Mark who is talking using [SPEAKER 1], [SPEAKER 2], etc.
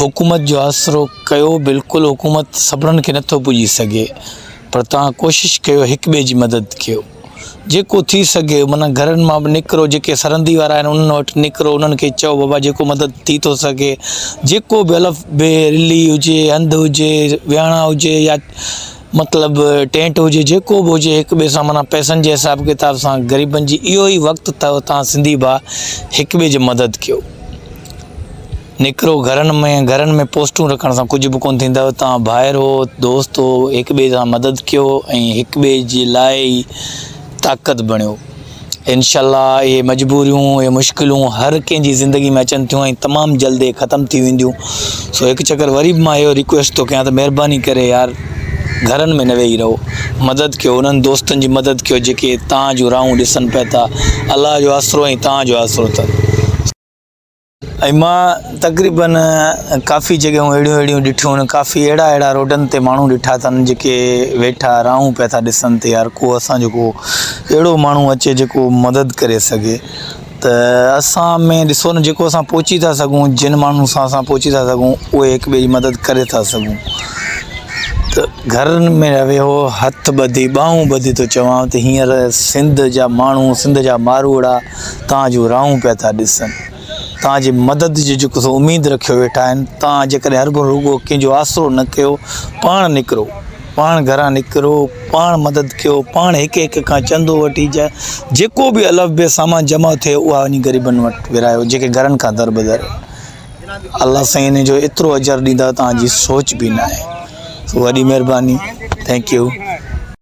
[SPEAKER 1] حڪومت جو آسرو ڪيو بلڪل حڪومت سڀنڻ کي نٿو پڄي سگهي پر توهان ڪوشش ڪيو هڪ ٻئي جي مدد ڪيو جيڪو ٿي سگهي معنيٰ گهرن مان به نڪرو جيڪي سرندي وارا آهن انهن وٽ نڪرو انهن کي چئو بابا جيڪو مدد ٿي ٿو سگهي جيڪو به الف بي رلي هجي هنڌ هجي ويهڻا هجي يا مطلب ٽينٽ هجي جيڪو به هجي هڪ ٻئي سان معنيٰ پئسن جي حساب ڪتاب سان غريبن جي اهو ئي وقت اٿو تان سنڌي ڀاء هڪ ٻئي جي مدد ڪيو نڪرو گهرن ۾ گهرن ۾ پوسٽون رکڻ سان ڪجهه به ڪون ٿيندو تان ڀائر هو دوست هو هڪ ٻئي سان مدد ڪيو ۽ هڪ ٻئي جي لاء ئي طاقت بڻيو انشاءالله اهي مجبوريون، اهي مشڪلون هر ڪنهن جي زندگي ۾ اچن ٿيون ۽ تمام جلد اهي ختم ٿي وينديون. سو هڪ چڪر وري به مان اهو ريڪويسٽ ٿو ڪيان ته مهرباني ڪري يار گهرن ۾ نه ويهي رهو. مدد ڪيو انهن دوستن جي مدد ڪيو جيڪي توهان جون راهون ڏسن پئي ٿا. الله جو آسرو ۽ توهان جو آسرو ته. ۽ مان تقريبن ڪافي جڳهيون اهڙيون اهڙيون ڏٺيون ان ڪافي اهڙا اهڙا روڊن تي ماڻهو ڏٺا اٿن جيڪي ويٺا راهون پيا ٿا ڏسن ته يار ڪو اسان جو ڪو اهڙو ماڻهو اچي جيڪو مدد ڪري سگهي ته اسان ۾ ڏسو نه جيڪو اسان پهچي ٿا سگهون جن ماڻهن سان اسان پهچي ٿا سگهون اهي هڪ ٻئي جي مدد ڪري ٿا سگهون ته گهرن ۾ رهي هو هٿ ٻڌي ٻانهون ٻڌي ٿو چوان ته هينئر سنڌ جا ماڻهو سنڌ جا ماروئڙا توهان جون راهون پيا ٿا ڏسن، توهان جي مدد جي جيڪو سو اميد رکيو ويٺا آهن، توهان جيڪڏهن هرگهو رڳو ڪنهن جو آسرو نه ڪيو، پاڻ نڪرو، پاڻ گهران نڪرو، پاڻ مدد ڪيو، پاڻ هڪ هڪ کان چندو وٺي جا جيڪو به الف بي سامان جمع ٿئي اها وڃي غريبن وٽ ورهايو جيڪي گهرن کان دربدر آهن، الله سائين ان جو ايترو اجر ڏيندا توهان جي سوچ به ناهي، وڏي مهرباني Thank you.